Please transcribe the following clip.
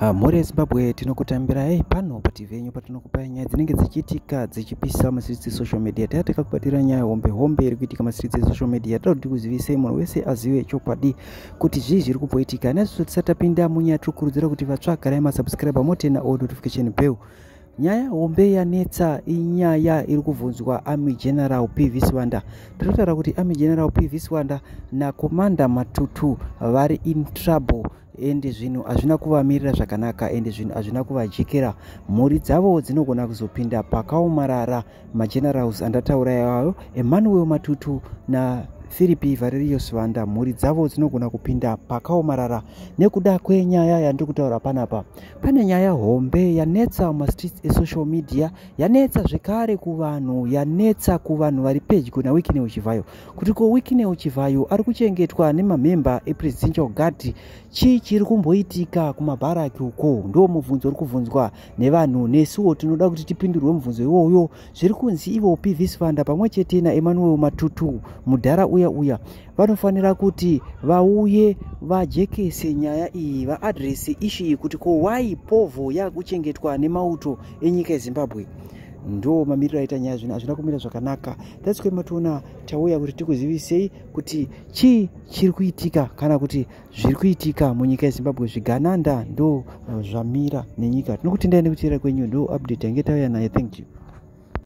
Ah, mhuri yezimbabwe tinokutambirai pano pati venyu patinokupai nyaya dzinenge dzichiitika dzichipisa masiritsi esocial media taa takakubatira nyaya hombe hombe iri kuitika masiritsi esocial media toda kuti kuzivisei munhu wese azive chokwadi kuti zvii zviri kumboitika naiziso tisatapinda munyaya tiri kukurudzira kuti vatsvagarai masubscribe motena o notification bell nyaya hombe yanetsa inyaya iri kubvunzwa army general p v siwanda tinotaura kuti army general p v siwanda nakomanda matutu vari in trouble ende zvinhu hazvina kuvamirira zvakanaka ende zvinhu hazvina kuvajekera mhuri dzavo dzinogona kuzopinda pakaomarara magenerals andataura iwayo emmanuel matutu na firipi variriyo sivanda mhuri dzavo dzinogona kupinda pakaomarara nekuda kwenyaya yandiri kutaura panapa pane nyaya hombe yanetsa mumastreets esocial media yanetsa zvekare kuvanhu yanetsa kuvanhu vari pedyo naweekine uchivhayo kuti ko wikineo chivhayo ari kuchengetwa nemamhemba epresidential guard chii chiri kumboitika kumabharaki uko ndo mubvunzo uri kubvunzwa nevanhu nesuwo tinoda kuti tipindurwe mubvunzo iwoyo zviri kunzi ivo pv sivanda pamwe chete naemmanuel matutu mudhara uya uya vanofanira kuti vauye vajekese nyaya iyi vaadrese ishi iyi kuti ko why povho yaakuchengetwa nemauto enyika yezimbabwe ndo mamiriro aita nyaya zvino hazvina kumira zvakanaka thats why matoona tauya kuti tikuzivisei kuti chii chiri kuitika kana kuti zviri kuitika munyika yezimbabwe zvigananda ndo zvamira nenyika tinokutendai nekuteera kwenyu ndo update yange tauya naye thank you